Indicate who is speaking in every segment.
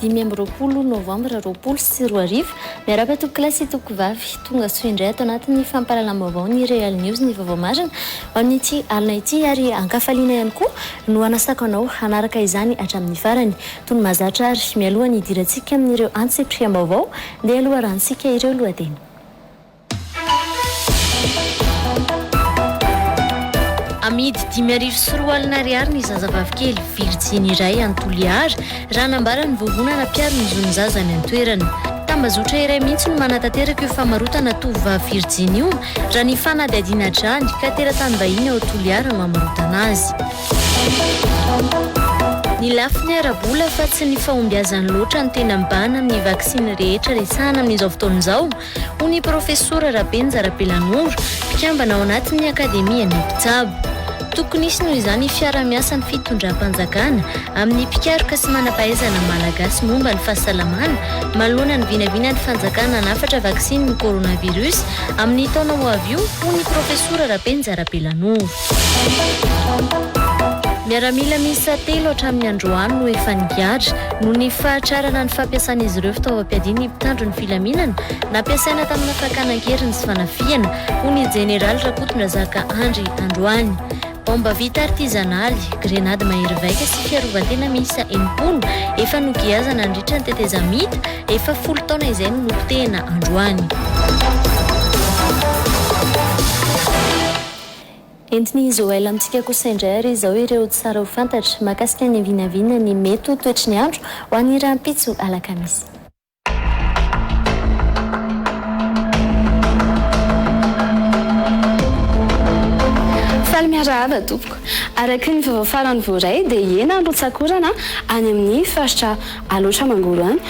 Speaker 1: dimy amby roapolo novambra roapolo sy roa arivo. Miarahaba tompokolahy sy tompokovavy. Tonga soa indray ato anatin'ny fampahalalam-baovao ny Real News ny vaovao marina ho an'ity alina ity ary an-kafaliana ihany koa no hanasako anao hanaraka izany hatramin'ny farany. Tony mahazatra ary mialoha ny hidirantsika amin'ireo antsipiriam-baovao dia loharanon-tsika ireo lohateny. Amidy dimy arivo sy roa alina ariary ny zazavavikely virjiny iray any Toliara, raha nambara ny vovonana mpiaro ny zon'ny zaza any an-toerana. Tambazotra iray mihitsy no manatanteraka io famarotana tovovavy virjiny io, raha ny fanadihadiana hatrany, ka teratany vahiny ao Toliara no amarotana azy. Ny lafiny ara-bola fa tsy ny fahombiazany loatra no tena mibahana amin'ny vaksiny rehetra resahana amin'izao fotoana izao, hoy ny profesora Rabenja Rabelanoro, mpikambana ao anatin'ny Akademian'ny mpitsabo. Tokony hisy noho izany fiarahamiasan'ny fitondram-panjakana amin'ny mpikaroka sy manam-pahaizana malagasy momba ny fahasalamana manoloana ny vinavinan'ny fanjakana hanafatra vaksiny ny coronavirus amin'ny taona ho avy io, hoy ny profesora Rabenja Rabelanoro. Miaramila miisa telo hatramin'ny androany no efa nigadra noho ny fahatrarana ny fampiasan'izy ireo fitaovam-piadiana ny mpitandro ny filaminana. filaminana nampiasaina tamina fakana an-keriny sy fanafihana, hoy ny Jeneraly Rakotondrazaka Andry androany. Baomba vita artizanaly, grenady mahery vaika sy fiarovan-tena miisa enimpolo efa nogiazana nandritra ny tetezamita efa folo taona izay no nopotehina androany. Entin'i Joël amintsika kosa indray àry izao ireo tsara ho fantatra mahakasika ny vinavina ny mety ho toetry ny andro ho an'ny rahampitso alakamisy.
Speaker 2: Faly miarahaba tompoko. Araky ny vaovao farany voaray dia hiena ny rotsak'orana any amin'ny faritra Alaotra Mangoro any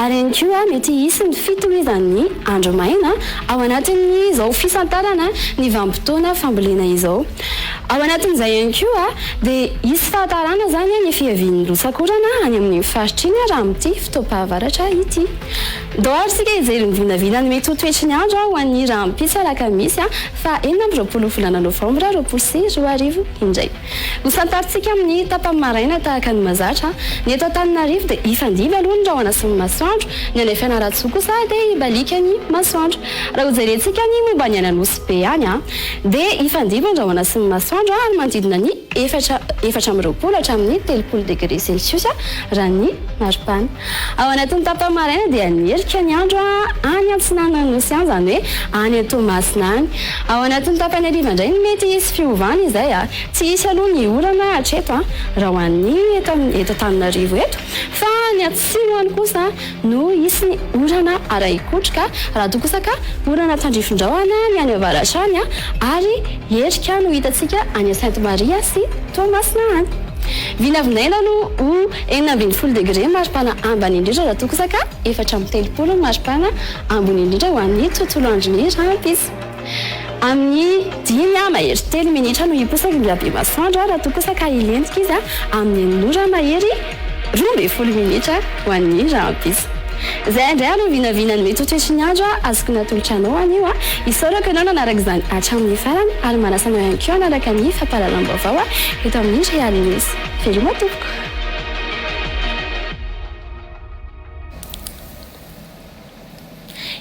Speaker 2: ary ihany koa mety hisy ny fitohizan'ny andro maina ao anatin'izao fisantarana ny vanim-potoana fambolena izao. Ao anatin'izay ihany koa dia hisy fahatarana izany ny fiavian'ny rotsak'orana any amin'iny faritra iny raha amin'ity fotoam-pahavaratra ity. Doara isika hijery ny vinavinan'ny mety ho toetry ny andro ho an'ny rahampitso alakamisy faha enina amby roapolo volana novambra roapolo sy roa arivo indray. Hosantarintsika amin'ny tapany maraina tahaka ny mahazatra. Ny eto Antananarivo dia hifandimby aloha ny rahona sy ny masoandro, ny any Fianarantsoa kosa dia hibaliaka ny masoandro. Raha hojerentsika ny momba ny any Anosy. be ihany an! Dia hifandimby an-drahona sy ny masoandro any manodidina ny efatra efatra amby roapolo hatramin'ny telopolo degre celsius raha ny maripana. Ao anatin'ny tapany maraina dia ny herika ny andro any antsinanan'ny nosy any, izany hoe any an-Toamasina any. Ao anatin'ny tapany hariva indray no mety hisy fiovana izay. Tsy hisy aloha ny orana hatreto raha ho an'ny eto Antananarivo eto fa any atsimo any kosa no hisy ny orana ara-ikotroka, raha toa kosa ka orana tandrifindraona ny any avaratra any ary herika no hitantsika any Sainte Maria sy Toamasina any. Vinavinaina no ho enina ambin'ny folo degre maripana ambany indrindra raha toa kosa ka efatra amby telopolo ny maripana ambony indrindra ho an'ny tontolo andron'ny rahampitso. Amin'ny dimy ah mahery telo minitra no hiposaka indray Abemasandra raha toa kosa ka hilentika izy amin'ny enina ora mahery roa ambin'ny folo minitra ho an'ny rahampitso. Izay indray ary no vinavina ny mety ho toetry ny andro azoko natolotra anao anio ah. Isaorako ianao nanaraka izany hatramin'ny farany ary manasa anao ihany koa hanaraka ny fampahalalam-baovao eto amin'ny Real News. Veloma tompoko.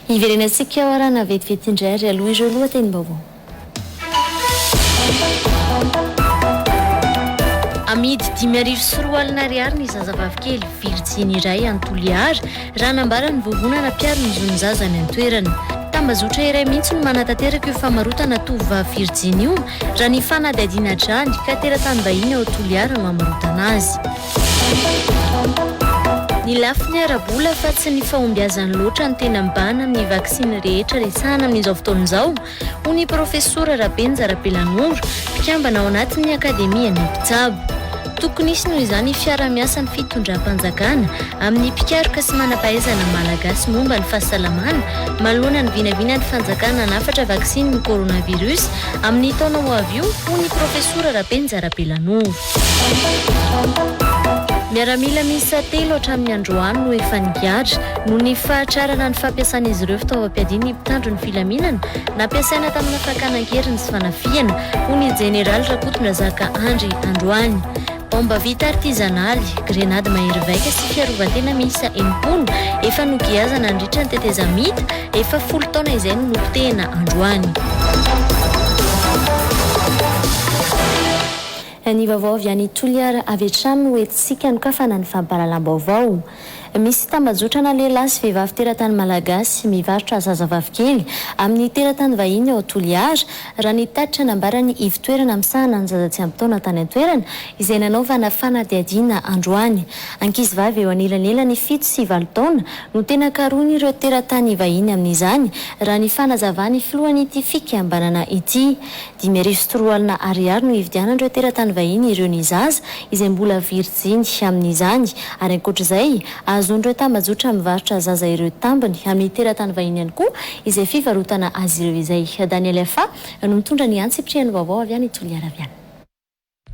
Speaker 1: Hiverenantsika ao arahana vetivety indray ary aloha ireo lohatenim-baovao. Amidy dimy arivo sy roa alina ariary ny zazavavy kely virjiny iray any Toliara, raha nambaran'ny vovonana mpiaro ny zon'ny zaza any an-toerana. Tambazotra iray mihitsy no manatanteraka io famarotana tovovavy virjiny io, raha ny fanadihadiana hatrany, ka teratany vahiny ao Toliara no hamarotana azy. Ny lafiny ara-bola fa tsy ny fahombiazany loatra no tena mibahana amin'ny vaksiny rehetra resahana amin'izao fotoana izao, hoy ny profesora Rapenja Rapelanoro, mpikambana ao anatin'ny Akademian'ny mpitsabo. Tokony hisy noho izany fiarahamiasan'ny fitondram-panjakana amin'ny mpikaroka sy manam-pahaizana malagasy momba ny fahasalamana manoloana ny vinavinan'ny fanjakana hanafatra vaksinin'ny coronavirus amin'ny taona ho avy io, hoy ny profesora Rapenja Rapelanoro. Miaramila miisa telo hatramin'ny androany no efa nigadra, noho ny fahatrarana ny fampiasan'izy ireo fitaovam-piadiana ny mpitandro ny filaminana, nampiasaina tamina fakana an-keriny sy fanafihana, hoy ny jeneraly Rakotondrazaka Andry androany. Baomba vita artizanaly, grenady mahery vaika sy fiarovan-tena miisa enimpolo efa nogiazana nandritra ny tetezamita efa folo taona izay no nopotehina androany.
Speaker 2: Ny vaovao avy any Toliara avy hatrany no entintsika hanokafana ny fampahalalam-baovao. Misy tambajotrana lehilahy sy vehivavy teratany malagasy mivarotra zazavavy kely amin'ny teratany vahiny ao Toliara, raha ny tatitra nambaran'ny ivotoerana misahana ny zaza tsy ampy taona tany an-toerana izay nanaovana fanadihadiana androany. Ankizivavy eo anelanelany fito sy valo taona no tena karohin'ireo teratany vahiny amin'izany, raha ny fanazavan'ny filohan'ity fikambanana ity. Dimy arivo sy roa alina ariary no hividianan'ireo teratany vahiny ireo ny zaza izay mbola virijiny amin'izany ary ankoatra izay, ahazoan'ireo tambajotra mivarotra zaza ireo tambiny amin'ny teratany vahiny ihany koa izay fivarotana azy ireo izay. Daniel Fa no mitondra ny an-tsipiriany vaovao avy any Toliara avy any.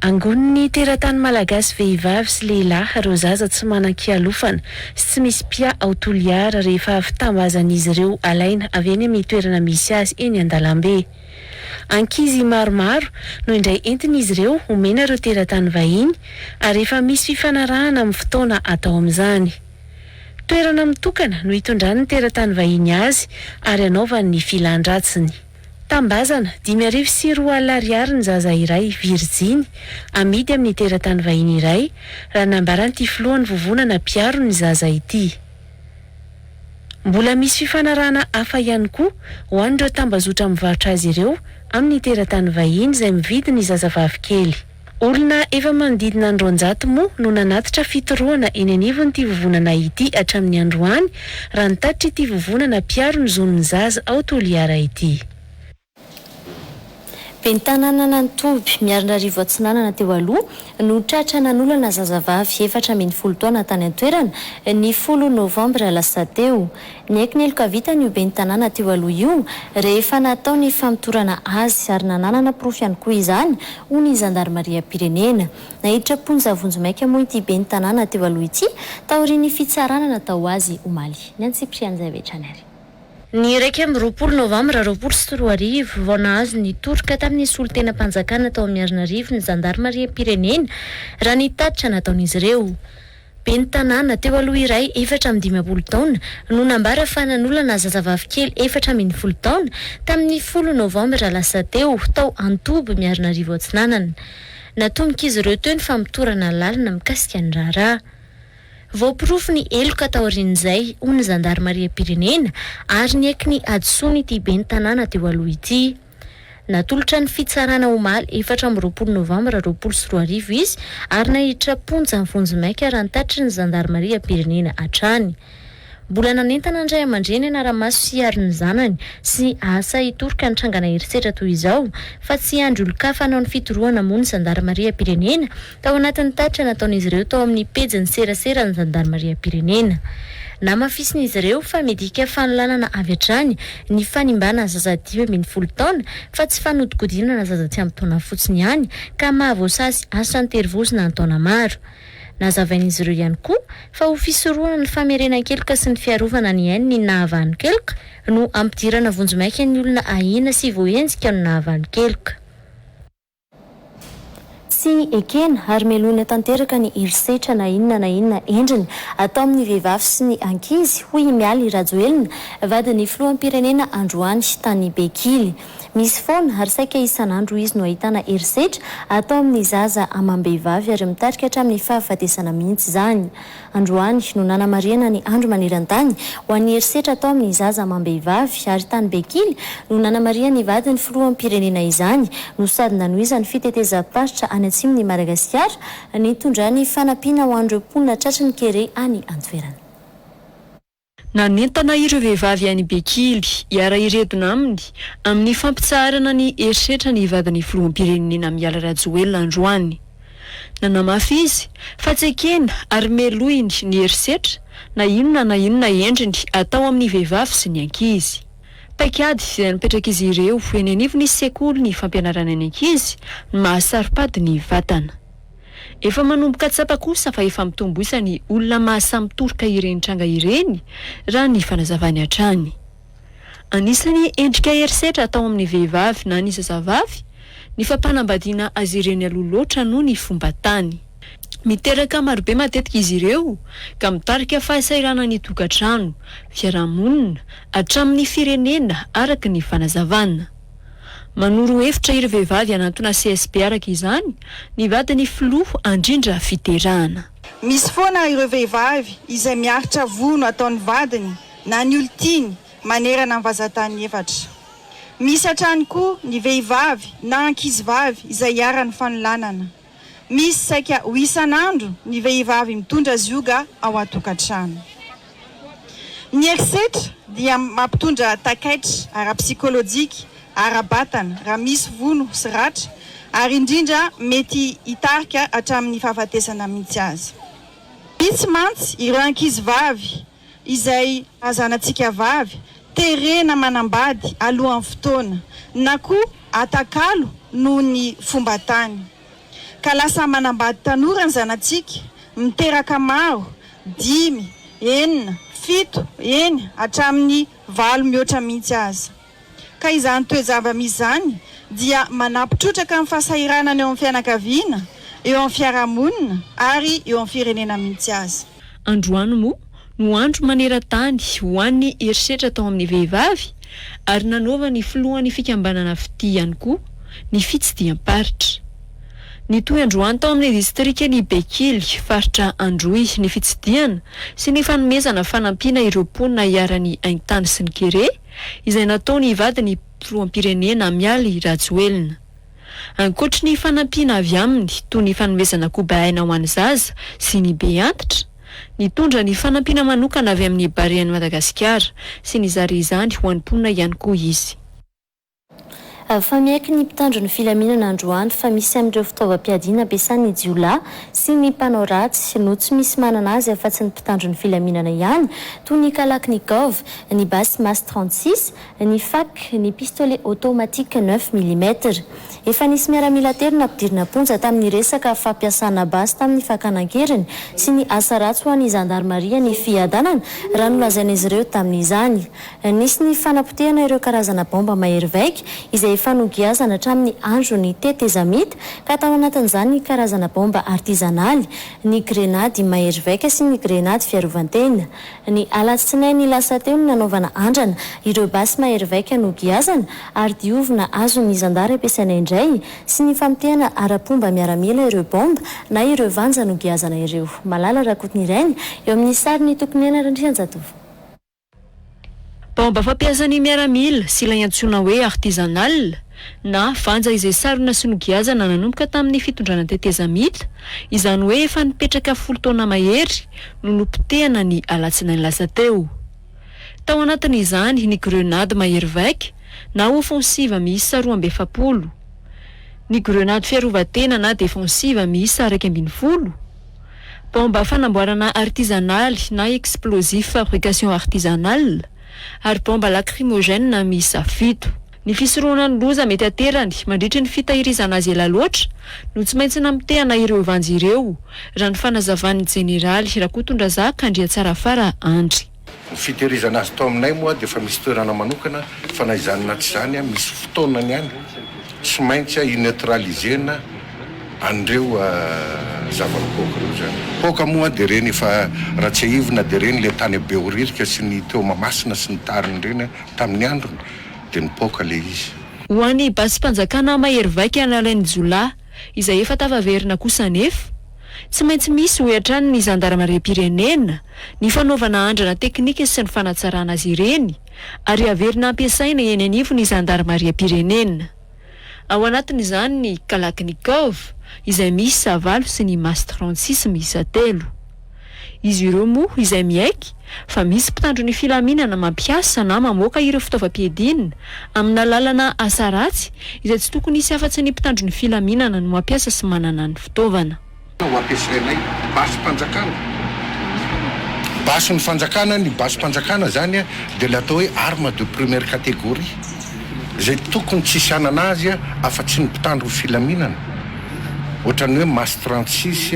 Speaker 2: Angonin'ny
Speaker 3: teratany malagasy vehivavy sy lehilahy ireo zaza tsy manan-kialofana sy tsy misy mpia ao Toliara rehefa avy tambazan'izy ireo alaina avy eny amin'ny toerana misy azy eny an-dalambe. Ankizy maromaro no indray entin'izy ireo omena ireo teratany vahiny ary efa misy fifanarahana amin'ny fotoana atao amin'izany. Toerana mitokana no itondrany ny teratany vahiny azy ary anaovany ny filan-dratsiny. Tambazana, dimy arivo sy roa alina ariary ny zaza iray, virijiny, amidy amin'ny teratany vahiny iray, raha nambaran'ity filohan'ny vovonana mpiaro ny zaza ity. Mbola misy fifanarahana hafa ihany koa ho an'ireo tambazotra mivarotra azy ireo amin'ny teratany vahiny izay mividy ny zazavavikely. Olona efa manodidina ny roanjato moa no nanatitra fitorohana eny anivon'ity vovonana ity hatramin'ny androany, raha ny tatitr'ity vovonana mpiaro ny zon'ny zaza ao Toliara ity.
Speaker 2: Ben'ny tanànan'Itoby, Miarinarivo Atsinanana teo aloha no tratra nanolana zazavavy efatra ambin'ny folo taona tany an-toerana, ny folo novambra lasa teo. Niaiky niloka vitany io ben'ny tanàna teo aloha io rehefa natao ny famotorana azy ary nananana porofo ihany koa izany, hoy ny zandarimariam-pirenena. Naiditra am-ponja vonjimaika moa ity ben'ny tanàna teo aloha ity taorian'ny fitsarana natao azy omaly. Ny an'i Cyprien Njaivecany ary. Ny iraika
Speaker 1: amby roapolo novambra roapolo sy roa arivo, vao nahazo ny toroka tamin'ny solontenam-panjakana tao Miarinarivo ny zandarimariam-pirenena, raha ny tatitra nataon'izy ireo. Ben'ny tanàna, teo aloha iray, efatra amby dimampolo taona, no nambara fa nanolana zazavavy kely efatra ambin'ny folo taona, tamin'ny folo novambra lasa teo, tao Antoby, Miarinarivo Atsinanana. Natombok'izy ireo teo ny famotorana lalina mikasika ny raharaha. Voaporofo ny heloka taorian'izay, hoy ny zandarimariam-pirenena, ary nieky ny hadisoany ity ben'ny tanàna teo aloha ity. Natolotra ny fitsarana omaly efatra amby roapolo novambra roapolo sy roa arivo izy ary naiditra am-ponja vonjimaika raha nitatitry ny zandarimariam-pirenena hatrany. Mbola nanentana ny ray aman-dreny hanara-maso sy hiaro ny zanany sy asa hitoroka ny trangana herisetra toy izao fa tsy hiandry olon-kafa hanao ny fitorohana moa ny zandarimariam-pirenena Tao anatin'ny tatitra nataon'izy ireo tao amin'ny pejin'ny serasera ny zandarimariam-pirenena, namafisin'izy ireo fa midika fanolanana avy hatrany ny fanimbana zaza dimy ambin'ny folo taona fa tsy fanodikodinana zaza tsy ampy taona fotsiny ihany ka mahavoasazy asa an-terivozona an-taona maro. Nazavain'izy ireo ihany koa fa ho fisorohana ny famerenan-keloka sy ny fiarovana ny ainy ny nahavanon-keloka no ampidirana vonjimaika ny olona ahiana sy voaenjika no nahavanon-keloka.
Speaker 2: Tsy ekena ary melohina tanteraka ny herisetra na inona na inona endriny atao amin'ny vehivavy sy ny ankizy, hoy i Mialy Rajoelina, vadin'ny filoham-pirenena androany, tany Bekily. Misy foana ary saika isan'andro izy no ahitana herisetra atao amin'ny zaza amam-behivavy ary mitarika hatramin'ny fahafatesana mihitsy izany. Androany no nanamarihana ny Andro maneran-tany ho an'ny herisetra atao amin'ny zaza amam-behivavy ary tany Bekily no nanamarihan'ny vadin'ny filoham-pirenena izany no sady nanohizany fitetezam-paritra any atsimon'i Madagasikara nitondrany fanampiana ho an'ireo mponina tratry ny kere any an-toerana. Nanentana
Speaker 4: ireo vehivavy any Bekily hiara-hiredona aminy amin'ny fampitsaharana ny herisetra ny vadin'ny filoham-pirenena Mialy Rajoelina androany. Nanamafy izy fa tsy ekeny ary melohiny ny herisetra na inona na inona endriny atao amin'ny vehivavy sy ny ankizy. Paikady izay napetrak'izy ireo eny anivon'ny sekoly ny fampianarana ny ankizy ny maha saropady ny vatana. Efa manomboka tsapa kosa fa efa mitombo isa ny olona mahasamtoroka ireny tranga ireny, raha ny fanazavany hatrany. Anisan'ny endrika herisetra atao amin'ny vehivavy na ny zazavavy ny fampanambadiana azy ireny aloha loatra noho ny fomba tany. Miteraka marobe matetika izy ireo ka mitarika fahasairana ny tokantrano, fiarahamonina, hatramin'ny firenena araka ny fanazavana. Manoro hevitra ireo vehivavy hanantona CSP araka izany ny vadin'ny filoha handrindra fiderana. Misy foana
Speaker 5: ireo vehivavy izay miaritra vono ataon'ny vadiny na ny olon-tiany manerana ny vazantany efatra. Misy hatrany koa ny vehivavy na ankizivavy izay iharan'ny fanolanana. Misy saika ho isan'andro ny vehivavy mitondra zioga ao an-tokantrano. Ny herisetra dia mampitondra takaitra ara-psikolojika, ara-batana raha misy vono sy ratra ary indrindra mety hitarika hatramin'ny fahafatesana mihitsy aza. Vitsy mantsy ireo ankizivavy izay hazanantsika vavy terena manambady alohan'ny fotoana na koa atakalo noho ny fomba tany ka lasa manambady tanora ny zanatsika miteraka maro dimy, enina, fito, eny hatramin'ny valo mihoatra mihitsy aza. ka izany toe-javamisy izany dia manampy trotraka amin'ny fahasahiranana eo amin'ny fianakaviana, eo amin'ny fiarahamonina ary eo amin'ny firenena mihitsy aza. Androany moa
Speaker 4: no andro maneran-tany ho an'ny herisetra atao amin'ny vehivavy ary nanaovan'ny filohan'ny fikambanana fitia ihany koa ny fitsidiham-paritra. Nitohy androany tao amin'ny distrikan'i Bekily, faritra Androy, ny fitsidihana sy ny fanomezana fanampiana ireo mponina iharan'ny haintany sy ny kere, izay nataon' i vadiny Filoham-pirenena Mialy Rajoelina. Ankoatry ny fanampiana avy aminy toy ny fanomezana koba aina ho an'ny zaza sy ny be antitra, nitondra ny fanampiana manokana avy amin'ny Barean'i Madagasikara sy nizara izany ho an'ny mponina ihany koa izy.
Speaker 1: Fa miaiky ny mpitandro ny filaminana androany fa misy amin'ireo fitaovam-piadiana ampiasan'ny jiolahy sy ny mpanao ratsy no tsy misy manana azy afa-tsy ny mpitandro ny filaminana ihany, toy ny kalaknikov, ny basy mas trente six, ny fak, ny pistolet automatique neuf millimètres. Efa nisy miaramila telo nampidirina am-ponja tamin'ny resaka fampiasana basy tamin'ny fakana an-keriny sy ny asa ratsy ho an'ny zandarimaria ny fiadanana, raha nolazain'izy ireo tamin'izany. Nisy ny fanapotehana ireo karazana baomba mahery vaika izay efa nogiazana hatramin'ny andron'ny tetezamita, ka tao anatin'izany ny karazana baomba artizanaly, ny grenady mahery vaika sy ny grenady fiarovan-tena. Ny alatsinainy lasa teo no nanaovana andrana ireo basy mahery vaika nogiazana ary diovina azon'ny zandary ampiasaina indray sy ny famotehana ara-pomba miaramila ireo baomba na ireo vanja nogiazana ireo. Malala Rakotonirainy, eo amin'ny sarin'i Tokinena Randrianjatovo.
Speaker 4: Baomba fampiasan'ny miaramila sy ilay antsoina hoe artisanal na vanja izay sarona sy nogiazana nanomboka tamin'ny fitondrana tetezamita, izany hoe efa nipetraka folo taona mahery, no nopotehana ny alatsinainy lasa teo. Tao anatin'izany ny grenady mahery vaika na offensive miisa roa amby efapolo, ny grenady fiarovan-tena na defensive miisa iraika ambin'ny folo, Baomba fanamboarana artizanaly na explosif fabrication artisanale, ary baomba lakrimogène miisa fito. Ny fisorohana ny loza mety aterany mandritry ny fitahirizana azy ela loatra no tsy maintsy namotehana ireo vanjy ireo, raha ny fanazavan'ny jeneraly Rakotondrazaka Andriatsarafara Andry. Ny fitehirizana
Speaker 6: azy tao aminay moa dia efa misy toerana manokana fa na izany na tsy izany misy fotoanany ihany tsy maintsy i-neutraliser-na an'ireo zava-mipoaka ireo izany. Poaka moa dia ireny efa raha tsiahivina dia ireny ilay tany Behoririka sy ny teo Mahamasina sy ny tariny ireny tamin'ny androny dia nipoaka ilay izy. Ho an'ny
Speaker 4: basim-panjakana mahery vaika nalain'ny jiolahy izay efa tafaverina kosa anefa, tsy maintsy misy hoy hatrany ny zandaramariam-pirenena ny fanaovana andrana teknika sy ny fanatsarana azy ireny ary haverina hampiasaina eny anivon'ny zandarimariam-pirenena. Ao anatin'izany ny Kalachnikov izay miisa valo sy ny Mastrantsisy miisa telo. Izy ireo moa izay miaiky fa misy mpitandro ny filaminana mampiasa na mamoaka ireo fitaovam-piadiana amin'alalana asa ratsy izay tsy tokony hisy afa-tsy ny mpitandro ny filaminana no mampiasa sy manana ny fitaovana. Ho ampiasainay
Speaker 6: basim-panjakana, basin'ny fanjakana, ny basim-panjakana izany dia ilay atao hoe arme de première catégorie izay tokony tsy hisy hanana azy afa-tsy ny mpitandro ny filaminana, ohatran'ny hoe masse trente six,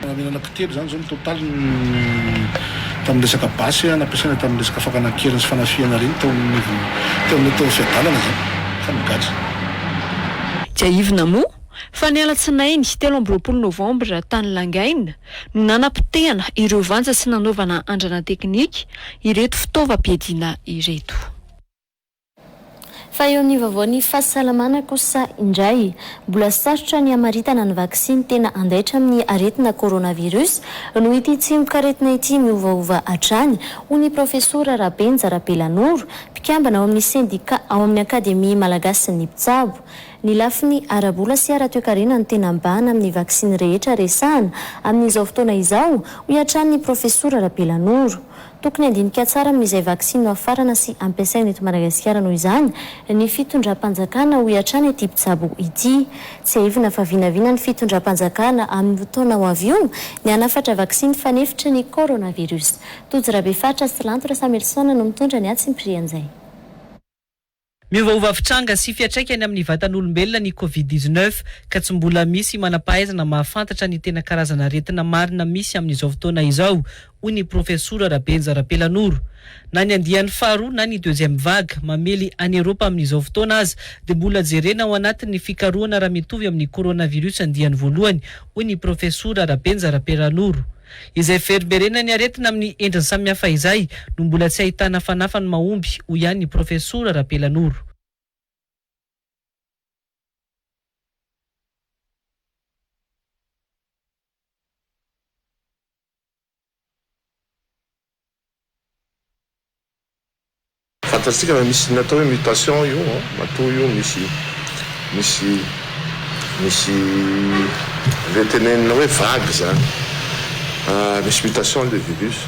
Speaker 6: Namela
Speaker 7: anaky telo izany izao ny totaliny tamin'ny resaka basy nampiasaina tamin'ny resaka fakana an-keriny sy fanafihana reny tao anivon'ny teo amin'ilay tao amin'ny fiadanana izany fa nigadra.
Speaker 4: Tsiahivina moa fa ny alatsinainy telo amby roapolo novambra tany Langaina no nanapotehana ireo vanja sy nanaovana andrana teknika ireto fitaovam-piadiana ireto.
Speaker 1: Fa eo ny vaovao ny fahasalamana kosa indray. Mbola sarotra ny hamaritana ny vaksiny tena handaitra amin'ny aretina coronavirus noho ity tsimok'aretina ity miovaova hatrany, hoy ny profesora Rabenja Rabelanoro, mpikambana ao amin'ny sendika ao amin'ny Akademia malagasin'ny mpitsabo. Ny lafiny ara-bola sy ara-toekarena no tena mibahana amin'ny vaksiny rehetra resahana amin'izao fotoana izao, hoy hatrany ny profesora Rabelanoro. Tokony handinika tsara amin'izay vaksiny nohafarana sy ampiasaina eto Madagasikara noho izany ny fitondram-panjakana, hoy hatrany ity mpitsabo ity. Tsiahivina fa vinavina ny fitondram-panjakana amin'ny roa taona ho avy io ny hanafatra vaksiny fanefitry ny coronavirus. Tojo Rabefaritra sy Lanto Rasamelison no mitondra ny hatsimpiry an'izay. Miovaova
Speaker 8: fitranga sy fiatraikany amin'ny vatan'olombelona ny Covid dix-neuf ka tsy mbola misy manam-pahaizana mahafantatra ny tena karazan'aretina marina misy amin'izao fotoana izao, hoy ny Profesora Rabenja Rapelanoro. Na ny andiany faharoa na ny deuxième vague mamely an'i Eropa amin'izao fotoana aza dia mbola jerena ao anatin'ny fikarohana raha mitovy amin'ny coronavirus andiany voalohany, hoy ny Profesora Rabenja Rapelanoro. Izay fiverimberenan'ny aretina amin'ny endriny samihafa izay no mbola tsy ahitana fanafany mahomby, hoy ihany i Profesora Rapelanoro.
Speaker 9: Fantatsika fa misy ny atao hoe mutation io an, matoa io misy misy misy ve tenenina hoe vague zany ah, misy mutation le virus.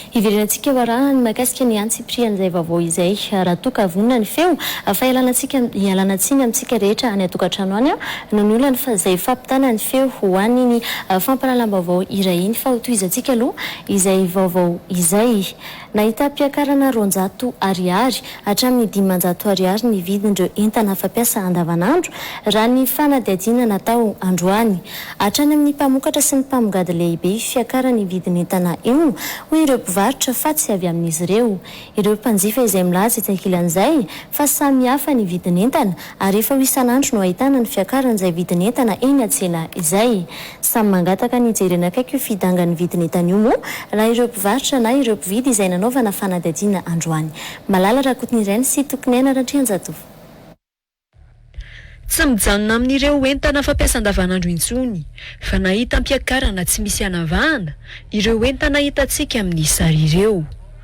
Speaker 1: Hiverenantsika eo arahany mahakasika ny antsipirihan'izay vaovao izay raha toa ka vonona ny feo fa ialana antsika ialana tsiny amintsika rehetra any an-tokantrano any no niolany fa izay fampitana ny feo ho an' iny fampahalalam-baovao iray iny fa hotohizantsika aloha izay vaovao izay Nahitam-piakarana roanjato Ariary hatramin'ny dimanjato Ariary ny vidin'ireo entana fampiasa andavanandro, raha ny fanadihadiana natao androany. Hatrany amin'ny mpamokatra sy ny mpamongady lehibe io fiakaran'ny vidin'entana io, hoy ireo mpivarotra fa tsy avy amin'izy ireo ireo mpanjifa izay milaza etsy ankilan'izay fa samihafa ny vidin'entana ary efa ho isan'andro no ahitana ny fiakaran'izay vidin'entana eny an-tsena izay. Samy mangataka ny hijerena akaiky io fidangan'ny vidin'entana io moa raha ireo mpivarotra na ireo mpividy izay nanaovana fanadihadiana androany. Malala Rakotonireny sy Tokoniaina Ratrianjatovo.
Speaker 4: Tsy mijanona amin'ireo entana fampiasa andavanandro intsony fa na hitam-piakarana tsy misy anavahana ireo entana hitantsika amin'ny sary ireo.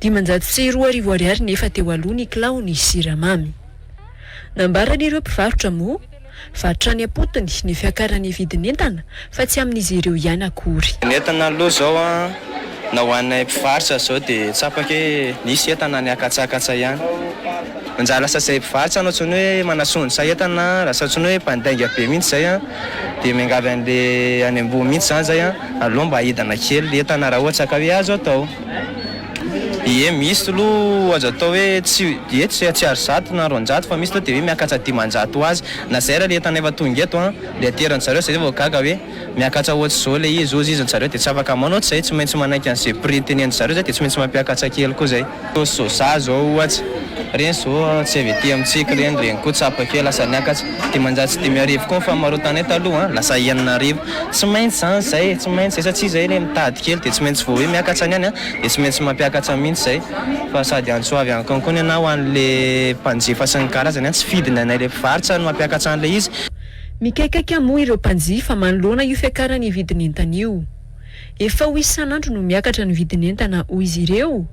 Speaker 4: Dimanjato sy roa arivo ariary nefa teo aloha ny kilao ny siramamy. Nambaran'ireo mpivarotra moa fa hatrany am-potony ny fiakaran'ny vidin'entana fa tsy amin'izy ireo ihany akory. Ny entana aloha izao
Speaker 10: na ho anay mpivarotra izao dia tsapako hoe misy entana niakatsakatsa ihany. Manjary lasa izay mpivarotra no antsoin'ny hoe manasondrotra entana, lasa antsoin'ny hoe mpandainga be mihitsy izay dia miangavy an'ilay any ambony mihitsy izany izay. Aleo mba aidana kely ny entana raha ohatra ka hoe azo atao. Ie misy aloha azo atao hoe tsy, ie tsy tsy ary zato na roanjato fa misy aloha dia hoe miakatra dimanjato ho azy. Na izay ary ilay entana efa tonga eto an, ilay ateran-dry zareo izay vao gaga hoe miakatra ohatr'izao ilay izy, hozy izy, ry zareo dia tsy afaka manao ohatr'izay, tsy maintsy manaiky an'izay prix tenenin-dry zareo izay dia tsy maintsy mampiakatra kely koa izay. Toa soja zao ohatsy, reny zao tsy avy aty amintsika reny, reny koa tsapa kely lasa niakatra, dimanjato sy dimy arivo koa ny famarotanay taloha an, lasa enina arivo, tsy maintsy zany zay, tsy maintsy zay satria zay le mitady kely de tsy maintsy vao hoe miakatra ny any an de tsy maintsy mampiakatra mintsy zay fa sady antso avy any Cancun ianao ho anle mpanjifa sy ny karazany an, tsy fidiny anay le mpivarotra no mampiakatra anle izy.
Speaker 4: Mikaikaika moa ireo mpanjifa manoloana io fiakaran'ny vidin'entana io. Efa ho isan'andro no miakatra ny vidin'entana hoy izy ireo,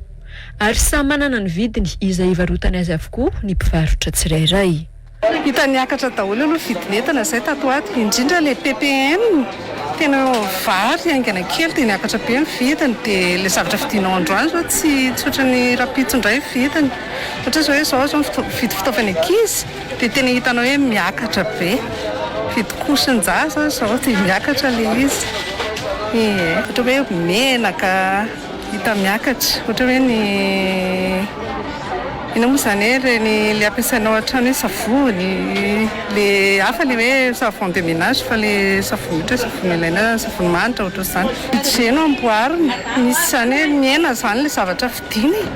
Speaker 4: ary samy manana ny vidiny izay ivarotany azy avokoa ny mpivarotra tsirairay. Hita niakatra
Speaker 11: daholo aloha vidin'entana izay tato ho ato, indrindra ilay ppn, tena vary haingana kely dia niakatra be ny vidiny, dia ilay zavatra vidinao androany izao tsy tsy ohatran'ny rahampitso indray vidiny, ohatra hoe izao izao ny mividy fitaovan'ny ankizy, Dia tena hitanao hoe miakatra be. Fidikosin-jaza izao dia miakatra ilay izy. Ie. Ohatra hoe menaka hita miakatra. Ohatra hoe ny, inona moa izany e, ireny ilay ampiasainao an-trano hoe savony, ilay hafa ilay hoe savon de ménage fa ilay savony ohatra hoe savony ilaina, savony manitra ohatr'izany. Budget no amboarina. Misy izany hoe mihena izany ilay zavatra vidiana e.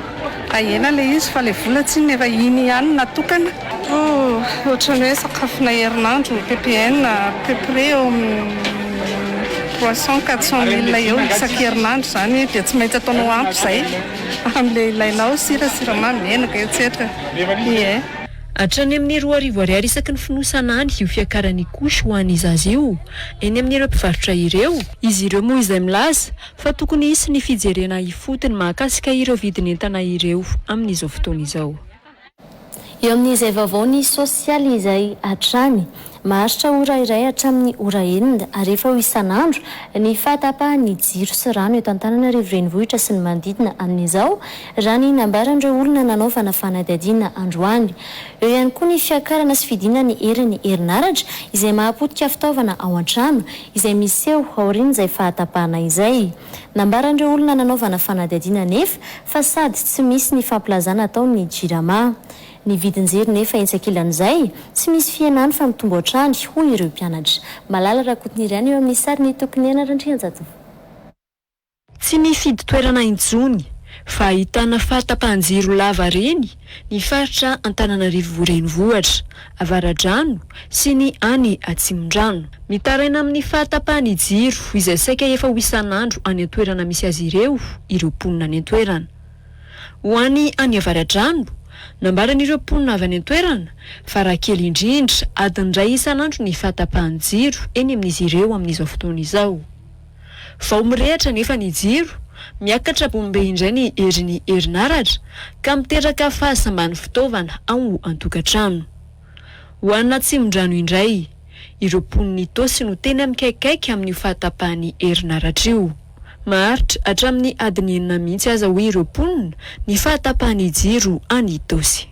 Speaker 11: Hay ela ilay izy fa ilay vola tsinona efa iny ihany no natokana. Ooh ohatran'ny hoe sakafona herinandro ppn à peu près eo amin'ny trois cent quatre cent mille eo isan-kerinandro izany dia tsy maintsy ataonao ampy izay amin'ilay ilainao sira, siramamy, menaka etsetra ie.
Speaker 4: Hatrany amin'ny roa arivo ariary isaky ny fonosana any io fiakaran'ny couche ho an'ny zaza io eny amin'ireo mpivarotra ireo. Izy ireo moa izay milaza fa tokony hisy ny fijerena ifotony mahakasika ireo vidin'entana ireo amin'izao fotoana izao. Eo
Speaker 1: amin'izay vaovao ny sosialy izay hatrany maharitra ora iray hatramin'ny ora enina Arivo eo isan'andro ny fahatapahan'ny jiro sy rano eto Antananarivo Renivohitra sy ny manodidina amin'izao raha ny nambaran'ireo olona nanaovana fanadihadiana androany. Eo ihany koa ny fiakarana sy fidiana ny herin'ny herinaratra izay mahapotika fitaovana ao an-trano izay miseho aorian'izay fahatapahana izay. Nambaran'ireo olona nanaovana fanadihadiana anefa fa sady tsy misy ny fampilazana atao ny Jirama. Ny vidin-jiro nefa etsy ankilan'izay, tsy misy fihenany fa mitombo hatrany, hoy ireo mpianatra. Malala Rakotonirina eo amin'ny sarin'i Tokinena Randrianjatovo.
Speaker 4: Tsy mifidy toerana intsony fa ahitana fahatapahan-jiro lava reny ny faritra Antananarivo Renivohitra Avaradrano sy ny any Atsimondrano. Mitaraina amin'ny fahatapahan'ny jiro izay saika efa ho isan'andro any an-toerana misy azy ireo ireo mponina any an-toerana. Ho any any Avaradrano, nambaran'ireo mponina avy any an-toerana fa raha kely indrindra adiny iray isan'andro ny fahatapahan'ny jiro eny amin'izy ireo amin'izao fotoana izao. Vao mirehatra anefa ny jiro, miakatra bombe indray ny herin'ny herinaratra ka miteraka fahasamban'ny fitaovana ao an-tokantrano. Ho an'ny Atsimondrano indray, ireo mponin'i Itaosy no tena mikaikaika amin'io fahatapahan'ny herinaratra io. Maharitra hatramin'ny adiny enina mihitsy aza hoy ireo mponina ny fahatapahan'ny jiro any Itaosy.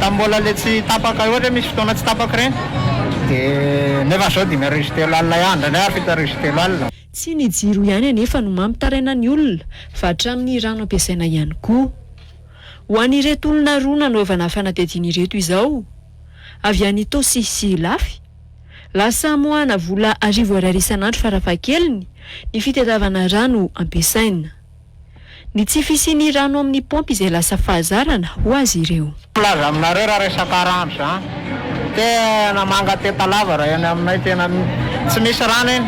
Speaker 12: Tamin'ny mbola le tsy tapaka ohatra hoe misy fotoana tsy tapaka ireny dia nefa zao dimy arivo sy telo alina ihany indraindray ary fito arivo sy telo alina. Tsy ny jiro ihany
Speaker 4: anefa no mampitaraina ny olona fa hatramin'ny rano ampiasaina ihany koa. Ho an'ireto olona roa nanaovana fanadihadiana ireto izao, avy any Itaosy sy Ilafy, lasa amoahana vola arivo ariary isan'andro farafahakeliny ny fitadiavana rano ampiasaina. Ny tsy fisian'ny rano amin'ny paompy izay lasa fahazarana ho azy ireo. Milaza aminareo raha
Speaker 12: resaka rano izany. Tena manga teta lava raha eny aminay tena tsy misy rano eny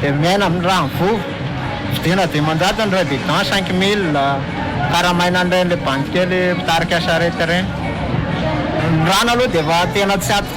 Speaker 12: dia miaina amin'ny rano vovo. Vidiana dimanjato ny raibidan cinq mille, karamaina an'ireny le bandy kely mpitarika sarety ireny. Ny rano aloha dia efa tena tsy ato.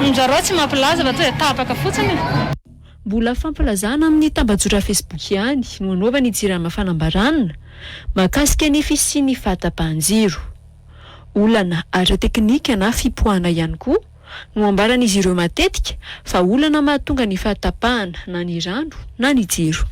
Speaker 13: Minjarao tsy mampilaza
Speaker 14: fa
Speaker 13: tonga dia tapaka fotsiny e! Mbola
Speaker 4: fampilazana amin'ny tambajotra Facebook ihany no anaovan'ny Jirama fanambarana mahakasika ny fisian'ny fahatapahan-jiro. Olana ara-teknika na fipoahana ihany koa no ambaran'izy ireo matetika fa olana mahatonga ny fahatapahana na ny rano na ny jiro.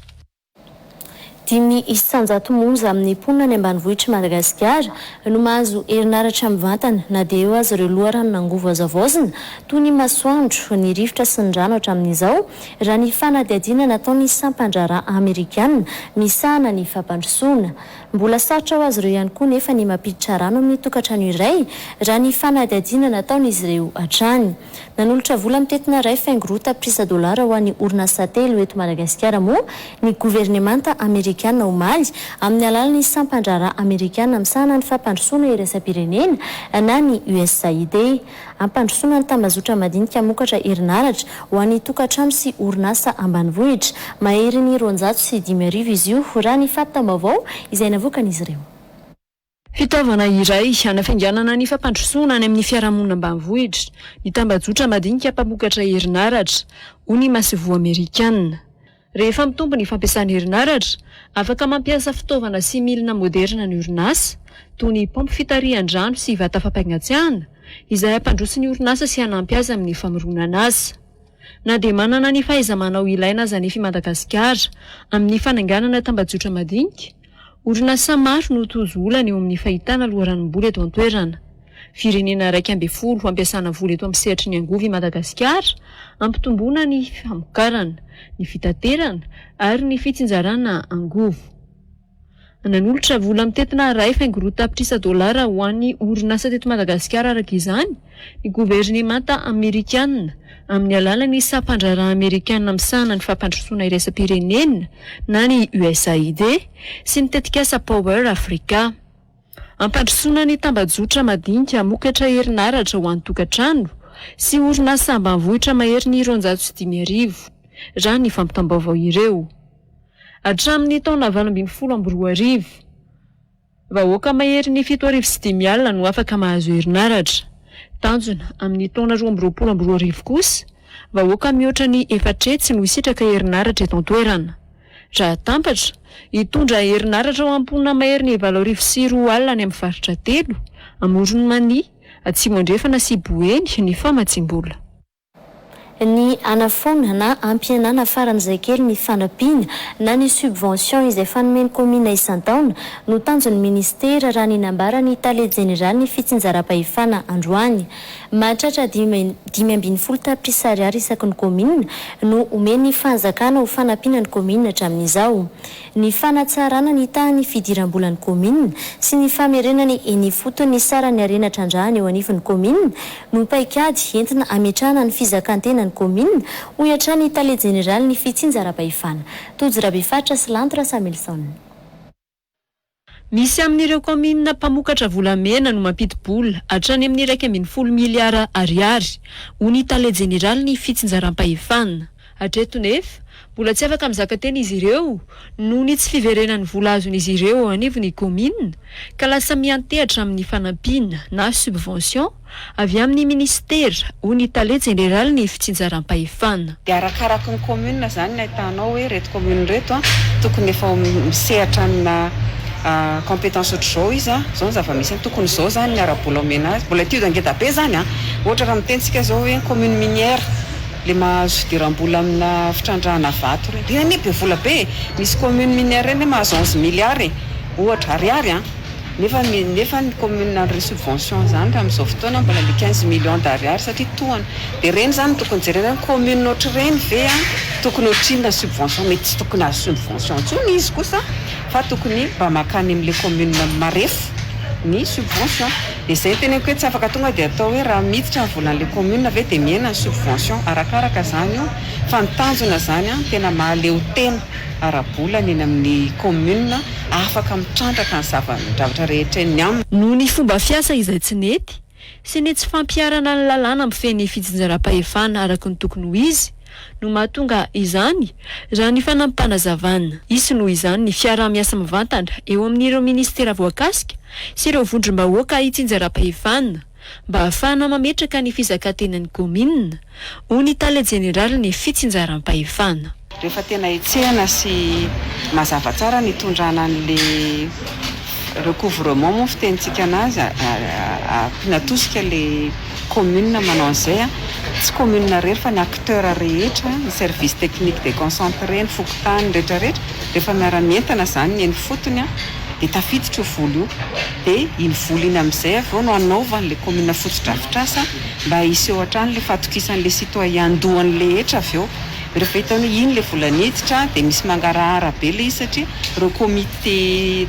Speaker 4: Dimy
Speaker 1: isan-jato monja amin'ny mponina any ambanivohitr'i Madagasikara no mahazo herinaratra mivantana na dia eo aza ireo loharanon'angovo hazavaozina toy ny masoandro, ny rivotra sy ny rano hatramin'izao, raha ny fanadihadiana nataon'ny sampan-draharaha amerikana misahana ny fampandrosoana. Mbola sarotra ho azy ireo ihany koa nefa ny mampiditra rano amin'ny tokantrano iray, raha ny fanadihadiana nataon'izy ireo hatrany. Nanolotra vola mitentina iray faingo roa tapitrisa dolara ho an'ny orinasa telo eto Madagasikara moa ny governemanta amerikana omaly, amin'ny alalan'ny sampan-draharaha amerikana misahana ny fampandrosoana iraisam-pirenena na ny USAID. Hampandrosoana ny tambazotra madinika hamokatra herinaratra ho an'ny tokantrano sy orinasa ambanivohitra. Maherin'ny roanjato sy dimy arivo izy io, raha ny fampitam-baovao izay navoakan'izy ireo. Fitaovana
Speaker 4: iray hanafainganana ny fampandrosoana any amin'ny fiarahamonina ambanivohitra ny tambajotra madinika mpamokatra herinaratra, hoy ny Masoivoho Amerikana. Rehefa mitombo ny fampiasana herinaratra, afaka mampiasa fitaovana sy milina moderina ny orinasa, toy ny paompy fitarihan-drano sy vata fampangatsiahana, izay hampandroso ny orinasa sy hanampy azy amin'ny famoronana asa. Na dia manana ny fahaiza-manao ilaina aza anefa i Madagasikara amin'ny fananganana tambajotra madinika, Orinasa maro no tojo olana eo amin'ny fahitana loharanom-bola eto an-toerana. Firenena iraika ambin'ny folo hampiasana vola eto amin'ny sehatry ny angovo i Madagasikara, hampitomboana ny famokarana, ny fitaterana ary ny fitsinjarana angovo. Nanolotra vola mitentina iray faingo roa tapitrisa dolara ho an'ny orinasa teto Madagasikara araka izany, Ny governemanta amerikanina, amin'ny alalan'ny Sampandraharaha Amerikana Misahana ny Fampandrosoana Iraisam-pirenena, na ny USAID, sy ny tetikasa Power Africa. Hampandrosoana ny tambajotra madinika hamokatra herinaratra ho an-tokantrano sy orinasa ambanivohitra maherin'ny roanjato sy dimy arivo, raha ny fampitam-baovao ireo. Hatramin'ny taona valo ambin'ny folo amby roa arivo, Vahoaka maherin'ny fito arivo sy dimy alina no afaka mahazo herinaratra. Tanjona, amin'ny taona roa amby roapolo amby roa arivo kosa, vahoaka mihoatra ny efatretsy no hisitraka herinaratra eto an-toerana. Raha tampatra, hitondra herinaratra ho an'ny mponina maherin'ny valo arivo sy roa alina any amin'ny faritra telo, Amoron'i Mania, Atsimo Andrefana sy Boeny, ny famatsiam-bola.
Speaker 1: ny hanafoana na hampihenana faran'izay kely ny fanampiana na ny subvention izay fanomen'ny kaominina isan-taona no tanjon'ny minisitera, raha ny nambaran'ny tale jeneralin'ny fitsinjaram-pahefana androany. Mahatratra dimy dimy ambin'ny folo tapitrisa ariary isaky ny kaominina no omen'ny fanjakana ho fanampiana ny kaominina hatramin'izao. ny fanatsarana ny tahan'ny fidiram-bolan'ny kaominina sy ny famerenany eny ifotony ny saran'ny harena trandrahana eo anivon'ny kaominina no paikady entina hametrahana ny fizakan-tenan'ny kaominina, hoy hatrany ny tale jeneralin'ny fitsinjaram-pahefana, Tojo Rabefaritra sy Lanto Rasamilison.
Speaker 4: Misy amin'ireo kaominina mpamokatra volamena no mampidi-bola hatrany amin'ny iraika ambin'ny folo miliara Ariary, hoy ny tale jeneralin'ny fitsinjaram-pahefana. Hatreto nefa, mbola tsy afaka mizaka tena izy ireo noho ny tsy fiverenan'ny vola azon'izy ireo eo anivon'ny kaominina, ka lasa miantehatra amin'ny fanampiana na subvention, Avy amin'ny minisitera, hoy ny tale jeneralin'ny fitsinjaram-pahefana. Dia arakaraky
Speaker 14: ny commune izany ny ahitanao hoe ireto commune ireto tokony efa misehatra amina compétence ohatr'izao izy, izao ny zava-misy, tokony izao izany ny ara-bola omena azy. Mbola étude ngeda be izany an! Ohatra raha miteny isika izao hoe commune minière, ilay mahazo fidiram-bola amina fitrandrahana vato ireny. Ireny anie be vola be e! Misy commune minière ireny anie mahazo onze milliards e! Ohatra, ariary an! Nefa nefa ny commune handray subvention zany raha amzao fotoana mbola le quinze millions d'ariary satria tohana de reny zany no tokony jerena hoe commune otrreny ve an tokony otrinona subvention mety tsy tokony azo subvention tsony izy kosa fa tokony mba makany amle commune marefo ny subvention de zay no teneniko hoe tsy afaka tonga de atao hoe raha miditra ny volanle commune ve de mihena ny subvention arakaraka zany io fa ny tanjona zany an tena mahaleo tena. ara-bola ny eny amin'ny kaominina afaka mitrandraka ny zava-javatra rehetra eny aminy. Noho ny fomba fiasa
Speaker 4: izay tsy nety sy ny tsy fampiharana ny lalàna mifehy ny fitsinjaram-pahefana araka ny tokony ho izy no mahatonga izany, raha ny fanampanazavan'. Hisy noho izany ny fiaraha-miasa mivantana eo amin'ireo minisitera voakasika sy ireo vondrom-bahoaka itsinjaram-pahefana. mba hahafahana mametraka ny fizakan-tenan'ny kaominina, hoy ny tale jeneralin'ny fitsinjaram-pahefana. Rehefa tena
Speaker 14: hetsehana sy mazava tsara ny hitondrana an'ilay recouvrement moa ny fitenintsika an'azy, ampiana tosika ilay kaominina manao an'izay, tsy kaominina irery fa ny acteurs rehetra, ny service technique déconcentré, ny fokontany, ny rehetrarehetra, rehefa miara-mientana izany ny eny ifotony, dia tafiditra io vola io, dia iny vola iny amin'izay avy eo no anaovan'ilay kaominina fotodrafitrasa mba hiseho hatrany ilay fahatokisan'ilay citoyen doany rehetra avy eo. Rehefa hitany hoe iny ilay vola niditra dia misy mangarahara be ilay izy satria ireo comité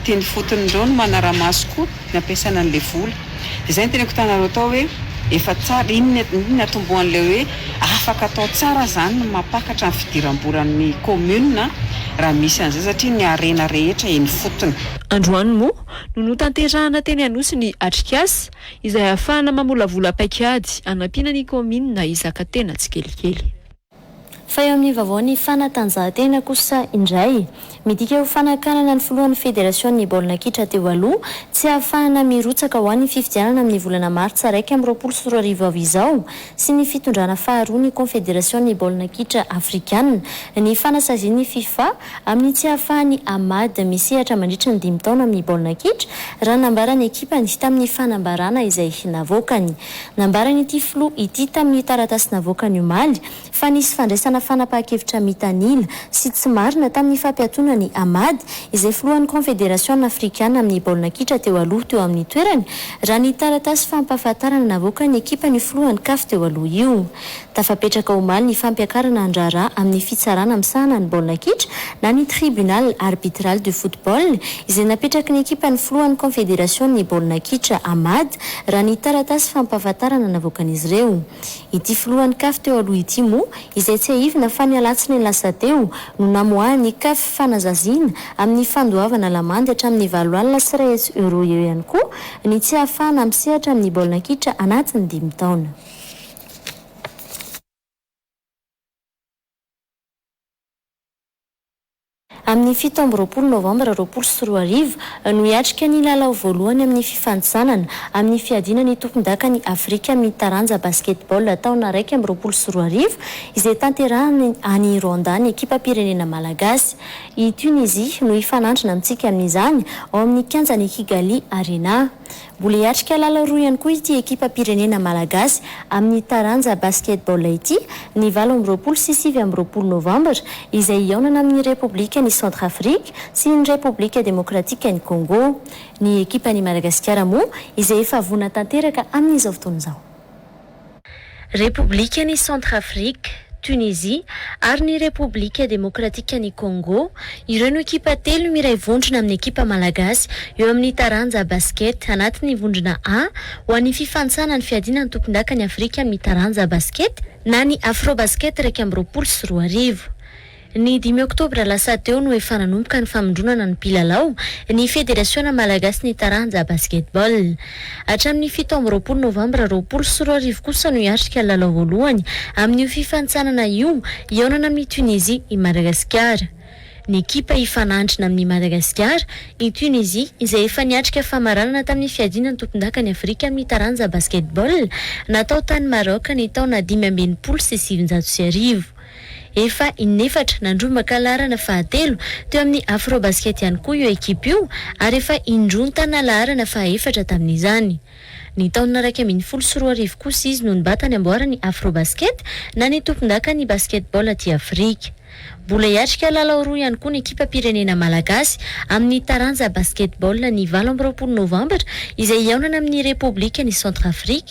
Speaker 14: teny ifotony ireo no manara-maso koa ny hampiasana an'ilay vola. Izay no teneniko tanareo tao hoe efa tsara, iny iny natombohan'ilay hoe afaka atao tsara zany ny mampakatra ny fidiram-bolan'ny commune a, raha misy an'izay satria ny harena rehetra eny ifotony. Androany moa
Speaker 4: no notanterahana teny Anosy ny atrikasa izay ahafahana mamolavola paik'ady hanampiana ny commune hizaka tena tsikelikely. Fa
Speaker 1: eo amin'ny vaovaon'ny fanatanjahantena kosa indray, midika ho fanakanana ny filohan'ny federasion'ny baolina kitra teo aloha, tsy hahafahana mirotsaka ho an'ny fifidianana amin'ny volana martsa iraika amby roapolo sy roa arivo avy izao sy ny fitondrana faharoa ny konfederasion'ny baolina kitra afrikana ny fanasazian'ny fifa amin'ny tsy hahafahan'i Ahmad misehatra mandritra ny dimy taona amin'ny baolina kitra, raha nambaran'ny ekipany tamin'ny fanambarana izay navoakany. Nambaran'ity filoha ity tamin'ny taratasy navoakany omaly fa nisy fandraisana fanapahan-kevitra mitanila sy tsy marina tamin'ny fampiatoana an'i Ahmad, izay filohan'ny Kaonfederasiona afrikana amin'ny baolina kitra teo aloha teo amin'ny toerany, raha ny taratasy fampahafantarana navoakan'ny ekipan'io filohan'ny Caf teo aloha io. Tafapetraka omaly ny fampiakarana an-draharaha amin'ny fitsarana misahana ny baolina kitra na ny Tribunal Arbitral du Football izay napetraky ny ekipan'ny filohan'ny Kaonfederasion'ny baolina kitra, Amad, raha ny taratasy fampahafantarana navoakan'izy ireo. Ity filohan'ny Caf teo aloha ity moa izay tsiahivina fa ny alatsinainy lasa teo no namoahan'ny Caf fanazaziana amin'ny fandoavana lamandy hatramin'ny valo alina sy iray hetsy euros eo ihany koa ny tsy ahafahana misehatra amin'ny baolina kitra anatin'ny dimy taona. Amin'ny fito amby roapolo novambra roapolo sy roa arivo no hiatrika ny lalao voalohany amin'ny fifanintsanana amin'ny fiadiana ny tompondakan'i Afrika amin'ny taranja Basketball taona iraika amby roapolo sy roa arivo izay tanterahina any Rwanda ny ekipam-pirenena malagasy. I Tunisie no hifanandrina amintsika amin'izany ao amin'ny kianjan'i Kigali Arena. Mbola hiatrika lalao roa ihany koa ity ekipam-pirenena malagasy amin'ny taranja basketball ity, ny valo amby roapolo sy sivy amby roapolo novambra, izay hihaonana amin'ny Repoblikan'i Centrafrique sy ny Repoblika Demokratikan'i Congo. Ny ekipan'i Madagasikara moa izay efa voana tanteraka amin'izao fotoana izao. Repoblikan' i Centrafrique, Tunisie, ary ny Repoblika Demokratikan' i Kôngô, ireo no ekipa telo miray vondrona amin' ny ekipa malagasy eo amin' ny taranja basikety anatin' ny vondrona A ho an' ny fifantsana ny fiadiana ny tompondaka ny Afrika amin' ny taranja basikety na ny Afrobasket iraika amby roapolo sy roa arivo. Ny dimy oktobra lasa teo no efa nanomboka ny famindronana ny mpilalao ny Federasiona malagasin'ny taranja Basketball. Hatramin'ny fito amby roapolo novambra roapolo sy roa arivo kosa no hiatrika ny lalao voalohany amin'io fifanintsanana io hihaonana amin'i Tunisie i Madagasikara. Ny ekipa hifanandrina amin'i Madagasikara, i Tunisie, izay efa niatrika famaranana tamin'ny fiadiana ny tompondakan'i Afrika amin'ny taranja Basketball natao tany Maroc ny taona dimy amby enimpolo sy sivinjato sy arivo. Efa in'efatra nandrombaka laharana fahatelo teo amin'ny Afrobasket ihany koa io ekipa io ary efa indroa nitana laharana fahaefatra tamin'izany. Ny taona iraika ambin'ny folo sy roa arivo kosa izy no nibata ny amboaran'ny Afrobasket na ny tompondakan'ny basketball aty Afrika. Mbola hiatrika lalao roa ihany koa ny ekipam-pirenena malagasy amin'ny taranja basketball ny valo amby roapolo novambra izay hihaonana amin'ny Repoblikan'i Centrafrique.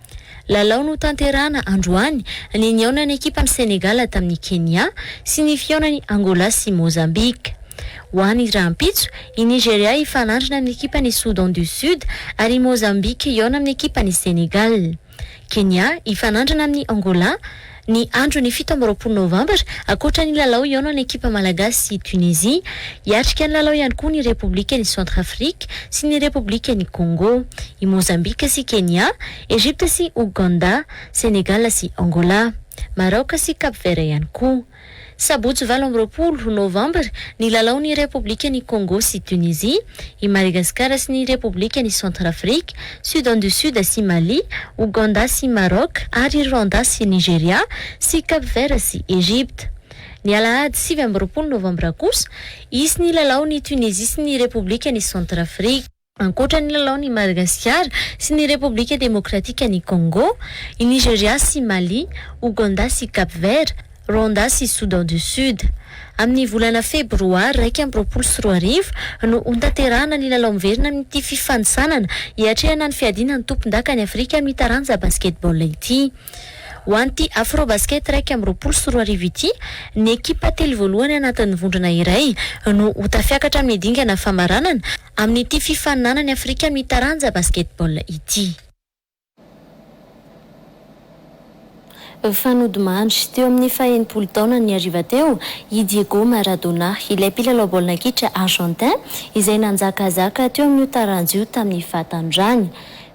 Speaker 1: Lalao notanterahana androany ny nihaonan'ny ekipan'i Sénégal tamin'i Kenya sy ny fihaonan'i Angola sy Mozambique. Ho any rahampitso, i Nigeria hifanandrina amin'ny ekipan'i Soudan du Sud ary i Mozambique hihaona amin'ny ekipan'i Sénégal. Kenya hifanandrina amin'i Angola. Ny andron'ny fito amby roapolo novambra, ankoatra ny lalao hihaonan'ny ekipa malagasy sy Tunisie, hiatrika ny lalao ihany koa ny Repoblikan'i Centrafrique sy ny Repoblikan'i Congo, i Mozambika sy Kenya, Egypte sy Ouganda, Senegal sy Angola, Maraoka sy Cap Vert ihany koa. Sabotsy valo amby roapolo Novambra, ny Lalaon' i Repoblikan' i Kôngô sy Tunisia, i Madagasikara sy ny Repoblikan' i Centrafrika, Soudan du Sud sy Mali, Oganda sy Marôc, ary Rwanda sy Nigeria, sy Cap Vert sy Egypta. Ny Alahady sivy amby roapolo Novambra kosa, hisy ny Lalaon' i Tunisia sy ny Repoblikan' i Centrafrika. Ankoatra ny lalaon' i Madagasikara sy ny Repoblika Demokratikan' i Kôngô, i Nigerià sy Mali, Ogandà sy Cap Vert, Rwanda sy Soudan du Sud. Amin' ny volana Febroary iraika amby roapolo sy roa arivo no hontanterahana ny lalao miverina amin' ity fifanintsanana hiatrehana ny fiadiana ny tompondaka any Afrika amin' ny taranja basketball ity. Ho an' ity Afrobasket iraika amby roapolo sy roa arivo ity, ny ekipa telo voalohany anatin' ny vondrona iray no ho tafiakatra amin' ny dingana famaranana, Amin'ity fifaninanany Afrika amin'ny taranja basketball ity. Fa nodimandry, teo amin'ny fahenimpolo taonany ny hariva teo, i Diego Maradona, ilay mpilalao baolina kitra Argentin izay nanjakazaka teo amin'io taranja io tamin'ny fahatandràny.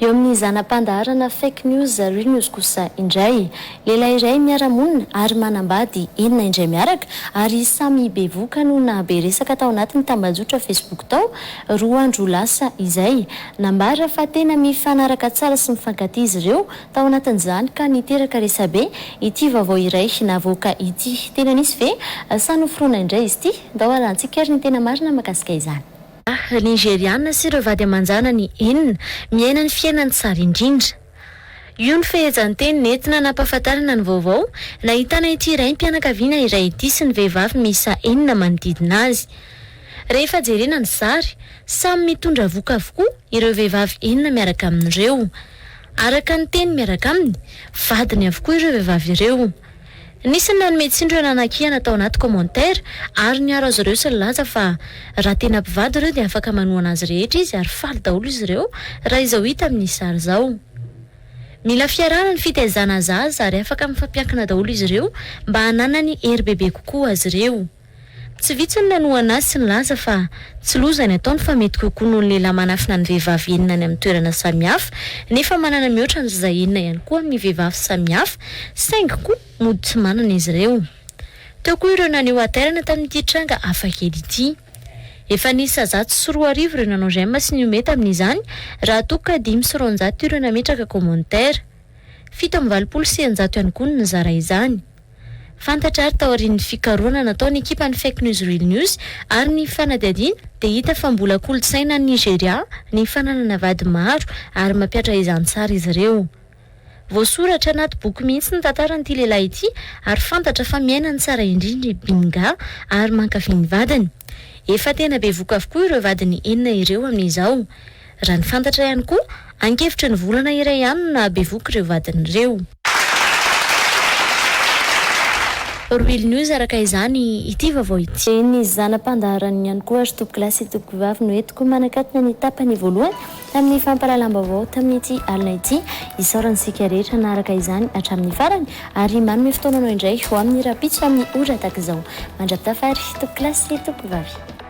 Speaker 1: Eo amin'ny zana-pandaharana Fake News, Real News kosa indray. Lehilahy iray miara-monina ary manambady enina indray miaraka ary samy bevoka no nahabe resaka tao anatin'ny tambajotra Facebook tao, roa andro lasa izay. Nambara fa tena mifanaraka tsara sy mifankatia izy ireo tao anatin'izany ka niteraka resabe ity vaovao iray navoaka ity. Tena nisy ve sa noforonina indray izy ity? Ndao halalintsika ary ny tena marina mahakasika izany. Lehilahy Nigeriana sy ireo vady aman-janany enina miaina ny fiainany tsara indrindra. Io no fehezanteny nentina nampahafantarana ny vaovao nahitana ity raim-pianakaviana iray ity sy ny vehivavy miisa enina manodidina azy. Rehefa jerena ny sary, samy mitondra vohoka avokoa ireo vehivavy enina miaraka aminy ireo. Araka ny teny miaraka aminy, vadiny avokoa ireo vehivavy ireo. Nisy ny nanome tsiny ireo nanakihana tao anaty commentaire ary niaro azy ireo sy nilaza fa raha tena mpivady ireo dia afaka manohana azy rehetra izy ary faly daholo izy ireo raha izao hita amin'ny sary izao. Mila fiarahana ny fitaizana zaza ary afaka mifampiankina daholo izy ireo mba hananany hery bebe kokoa azy ireo. Tsy vitsy no nanohana azy sy nilaza fa tsy loza ny ataony fa mety kokoa noho ny lehilahy manafina ny vehivavy enina any amin'ny toerana samihafa nefa manana mihoatra an'izay enina ihany koa amin'ny vehivavy samihafa saingy koa mody tsy manana izy ireo. Teo koa ireo naneho hatairana tamin'ity tranga hafakely ity. Efa niisa zato sy roa arivo ireo nanao j'aime sy nihomehy tamin'izany raha toa ka dimy sy roanjato ireo nametraka commentaire. Fito amby valopolo sy eninjato ihany koa no nizara izany. Fantatra ary taorian'ny fikarohana nataon'ny ekipan'ny Fake News Real News ary ny fanadihadiana dia hita fa mbola kolontsaina any Nigeria ny fananana vady maro ary mampiatra izany tsara izy ireo. Voasoratra anaty boky mihitsy ny tantaran'ity lehilahy ity ary fantatra fa miaina ny tsara indrindra i Binga ary mankafy ny vadiny. Efa tena bevoka avokoa ireo vadiny enina ireo amin'izao. Raha ny fantatra ihany koa, ankefitry ny volana iray ihany no nahabevohoka ireo vadiny ireo. Rohily News araka izany ity vaovao ity. Ny zana-pandaharana ihany koa ry tompokolahy sy tompokovavy no entiko manakatona ny tapany voalohany tamin'ny fampahalalam-baovao tamin'ity alina ity. Isaorana isika rehetra naharaka izany hatramin'ny farany ary manome fotoana anao indray ho amin'ny rahampitso amin'ny ora tahaka izao. Mandra-pitafa ary tompokolahy sy tompokovavy.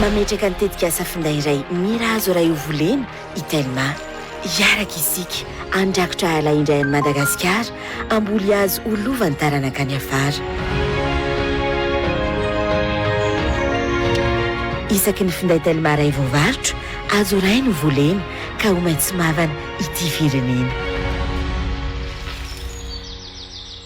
Speaker 15: Mametraka ny tetikasa finday iray Mira azo raha io volena i Telma. Hiaraka isika handrakotra ala indray an'i Madagasikara, hamboly hazo ho lovan'ny taranaka any afara. Isaky ny finday Telma iray voavarotra, hazo iray no volena ka ho maitso mavana ity firenena.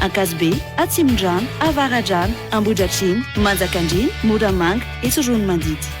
Speaker 16: Ankazobe, Atsimondrano, Avaradrano, Ambohidratrimo, Manjakandriana, Moramanga, etsy Roanomandidy.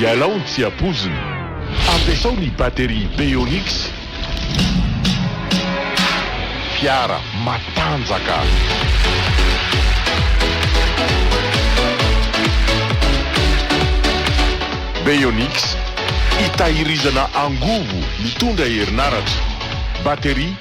Speaker 17: Ialao ny tsy ampoizina. Ampiasao ny batterie Beonix. Fiara matanjaka. Beonix, hitahirizana angovo mitondra herinaratra. Batterie